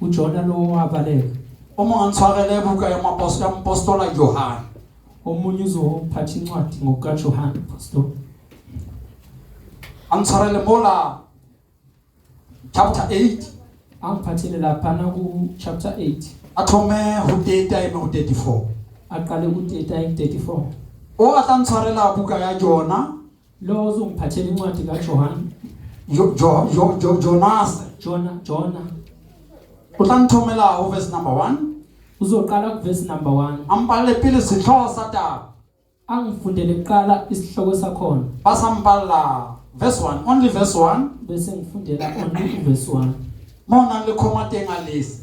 Ujona lowo wabaleka. Uma ngantshwarela ebuka ya mapostola mpostola Yohane. Omunye uzophatha incwadi ngokuka Yohane pastor. Angitshwarele mola chapter 8 angiphathele laphana ku chapter 8 athome ho data eme ho 34 aqale ku data 34 o a tla ntshwarela buka ya jona Lo uzongiphathela incwadi ka Johan. Jo jo jo jo Jonas. Jona Jona. O tla nthomela ho verse number 1. Uzoqala ku verse number 1. Ampale pele sehlooho sa taba. Angifundele kuqala isihloko sakhona. Basampalla verse 1 only verse 1 bese ngifundela only verse 1 mona le khoma teng a lesi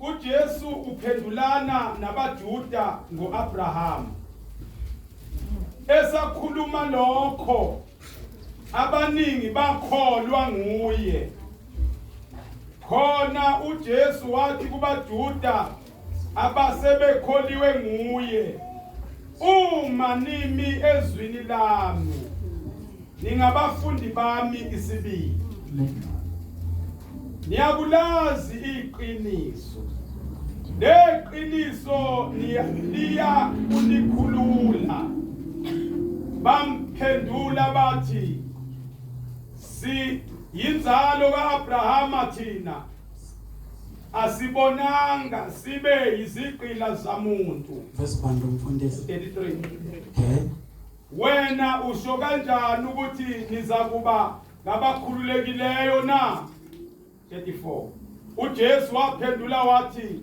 UJesu uphendulana nabaJuda ngoAbrahama. Esakhuluma lokho abaningi bakholwa nguye. Khona uJesu wathi kubaJuda abasebekholiwe nguye, uma nimi ezwini lami Ningabafundi bami isibili. Niyakulazi iqiniso. Neqiniso liya unikhulula. Bamphendula bathi si yinzalo kaAbrahama thina asibonanga sibe yizigqila zamuntu. Verse 1 mfundisi. 33. Okay. Wena usho kanjani ukuthi nizakuba ngabakhululekileyo na? 34 uJesu waphendula wathi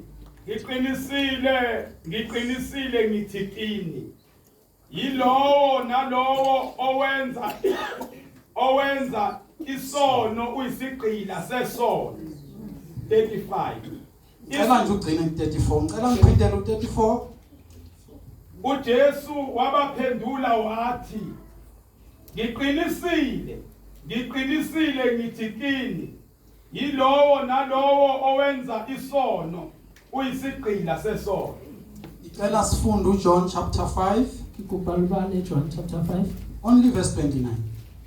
ngiqinisile ngiqinisile ngithi kini yilowo nalowo owenza owenza isono uyisigqila sesono 35 Ngicela nje ugcine ku-34. Ngicela ngiphindele u-34. UJesu wabaphendula wathi, Ngiqinisile, ngiqinisile ngithi kini, yilowo nalowo owenza isono uyisigqila sesono. Ngicela sifunde uJohn chapter 5. Ngikubhala ubani eJohn chapter 5? Only verse 29.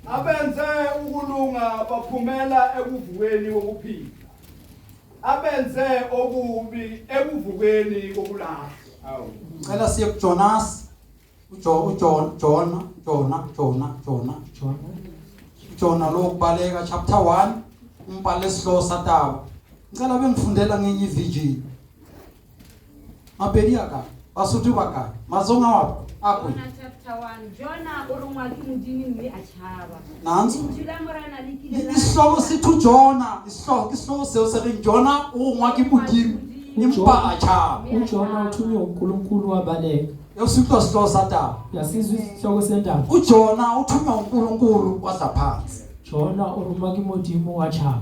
Abenze ukulunga baphumela ekuvukeni kokuphila. abenze okubi ekuvukeni kokulahlwa ngicela siye kuJonas uJona Jona Jona Jona Jona Jona lokubaleka chapter 1 umbhalo esihloko sataba ngicela bengifundela ngenye iVG Mapedi a kae? Basotho ba kae? Mazonga wa akwe. Nanso. Isihloko sithi uJona, isihloko isihloko seo se reng Jona o ngwa ke Modimo empa a tshaba. UJona uthunywe uNkulunkulu wabaleka. Yositwa sihloko sa taba. Yasizwa isihloko sendaba. UJona uthunywa uNkulunkulu wadla phansi. Jona o rongwa ke Modimo wa tshaba.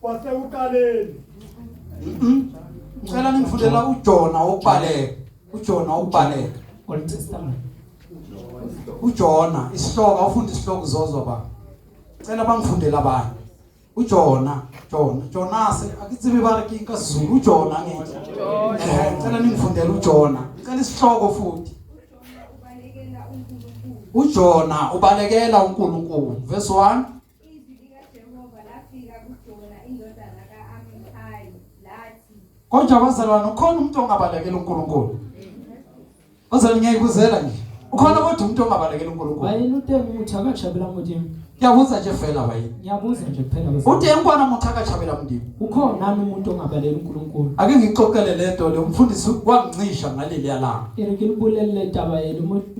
kwasekuqaleni ngicela ningifundela uJona obaleka uJona obaleka Old Testament uJona isihloko awufunda isihloko uzozwa ba cela bangifundela abanye uJona Jona Jonase akithibe ba re ke ka Zulu uJona ngithi eh cela ningifundela uJona cela isihloko futhi uJona ubalekela uNkulunkulu verse 1 kodwa bazalwane ukhona umuntu ongabalekela uNkulunkulu bazalwane ngiyayibuzela nje ukhona kodwa umuntu ongabalekela uNkulunkulu bayini utemu muthi akajabela mudini ngiyabuza nje vela bayini ngiyabuza nje kuphela utemu kwana muthi akajabela mudini ukhona nami umuntu ongabalekela uNkulunkulu ake ngixoxele lento le umfundisi wangincisha ngaleli yalanga irikilibulele taba yenu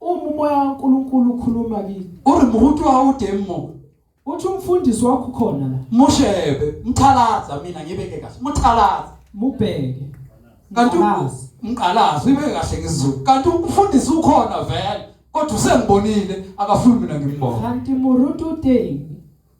Uma umoya kaNkulunkulu ukhuluma kini. O re moruti wa hao o teng moo. Uthi umfundisi wakho ukhona la. Mo shebe, mthalaza mina ngibeke kahle. Mthalaza. Mubheke. Kanti umqalazi ibe kahle ngesiZulu. Kanti umfundisi ukhona vele. Kodwa usengibonile akafuni mina ngimbone. Kanti moruti o teng.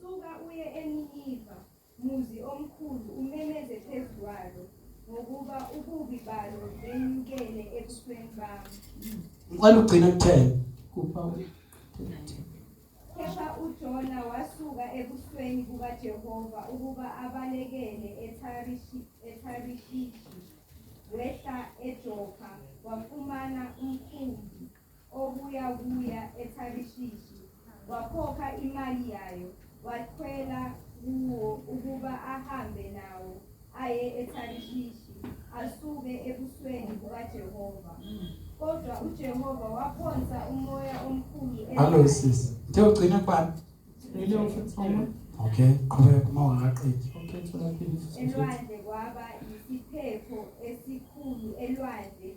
Suka uye eNiniva, muzi omkhulu, umemeze phezu kwalo, ngokuba ububi balo benyukele ebusweni bami. Ngicela ugcina kuthela. Kupha Kepha uJona wasuka ebusweni bukaJehova ukuba abalekele eTharishi- eTharishishi, wehla eJopha, wafumana umkhumbi obuya kuya eTharishishi, wakhokha imali yayo, wakhwela kuwo ukuba ahambe nawo aye eTharishishi, asuke ebusweni bukaJehova. Kodwa uJehova waphonsa umoya omkhulu Hallo enaye. sisi. Uthe ugcina kubani? Ngile ufuthela. Okay, qhubeka uma ungaqedi. Okay, thola phela ufuthela. elwandle kwaba yisiphepho esikhulu elwandle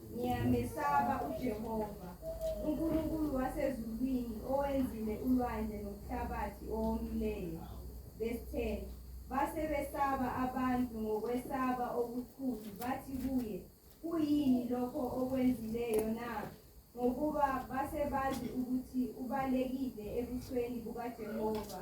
Ngiyamesaba uJehova, uNkulunkulu wasezulwini owenzile ulwandle nomhlabathi owomileyo. Verse 10. Base besaba abantu ngokwesaba okukhulu bathi kuye, kuyini lokho okwenzileyo na? Ngokuba base bazi ukuthi ubalekile ebusweni bukaJehova.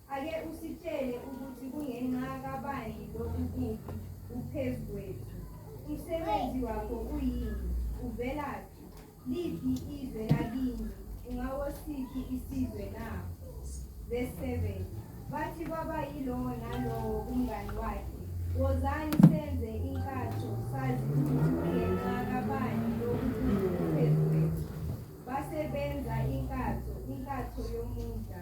Ake usitshele ukuthi kungenxa kabani lokhu kubi kuphezu kwethu. Umsebenzi wakho uyini? Uvelaphi? Liphi izwe lakini? Ungawosiphi isizwe na? Verse 7. Bathi kwaba yilowo nalowo umngani wakhe, wozani senze inkatho sazi ukuthi kungenxa kabani lokhu kubi kuphezu kwethu. Base benza inkatho, inkatho yomudla.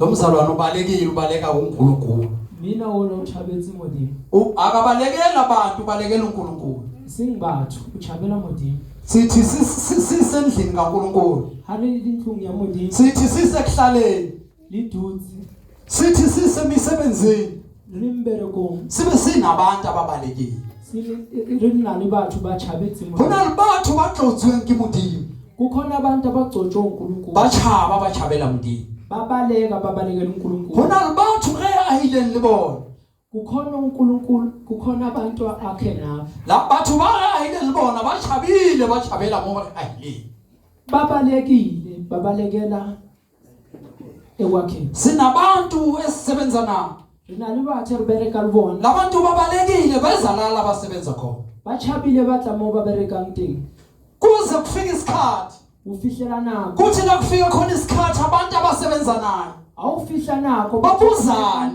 Lo mzalwane ubalekile ubaleka uNkulunkulu. Mina wona utshabetsi modimo. U- Akabalekeli abantu ubalekela uNkulunkulu. Sing batho utshabela modimo. Sithi sis- sis- sisendlini kaNkulunkulu. Ha re le dintlong ya modimo. Sithi sisekuhlaleni. Le dutse. Sithi sisemisebenzini. sibe sinabantu ababalekile go na le batho ba tlotsweng ke modimo kukhona abantu abagcotshwe uNkulunkulu bachaba abachabela mndini babaleka babalekela uNkulunkulu khona abantu ke ayileni libona kukhona uNkulunkulu kukhona abantu akhe nabo la batho ba ayileni libona bachabile bachabela ngoba ayileni babalekile babalekela ekwakheni sinabantu esisebenza nabo re na le batho re bereka le bona labantu ba balekile ba ezalala basebenza khona ba chabile ba tla moo ba berekang teng kuze kufike isikhathi o fihlela nako kuthi nakufika khona isikhathi abantu abasebenza nayo ha o fihla nako ba buzane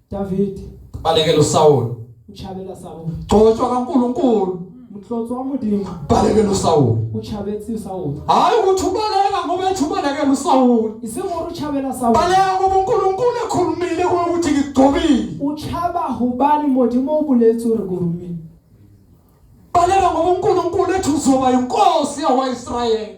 David balekela uSawulu uchabela Sawulu gcotshwa kaNkuluNkulu mhlotso wamudinga balekela uSawulu uchabethi uSawulu hayi ukuthi ubaleka ngoba ethi ubalekela uSawulu isingoro uchabela Sawulu baleka ngoba uNkulunkulu ekhulumile kuwe ukuthi ngigcobile uchaba hubani modimo ubulethu rekurumile baleka ngoba uNkulunkulu ethi uzoba inkosi yakwaIsrayeli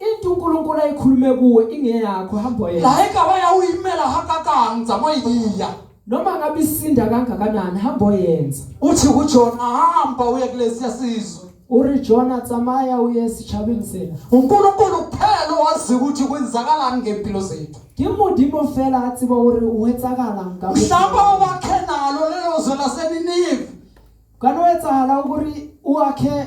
into unkulunkulu ayikhulume kuwe ingeyakho hamba yena la e ka ba ya o imela hakakang tsamaiea noma ngabe isinda kangakanani hamba oyenza uthi kujona hamba uye kulesiya sizwe o re jona tsamaya o ye setšhabeng sena unkulunkulu kuphela owazi ukuthi kwenzakalani ngempilo zethu ke modimo fela a tseba gore o etsagalang ka mhlawumbe ubakhe nalo lelo zwe laseninive kana o etsagala gore o akhe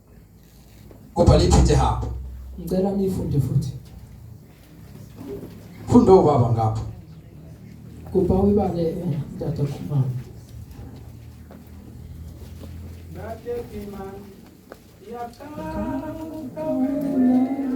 kodwa liphinde hamba ngicela nifunde futhi funda ubaba ngapha kuba uyibale eh, tata khumama Nate Kimani, Yakala, Kawela.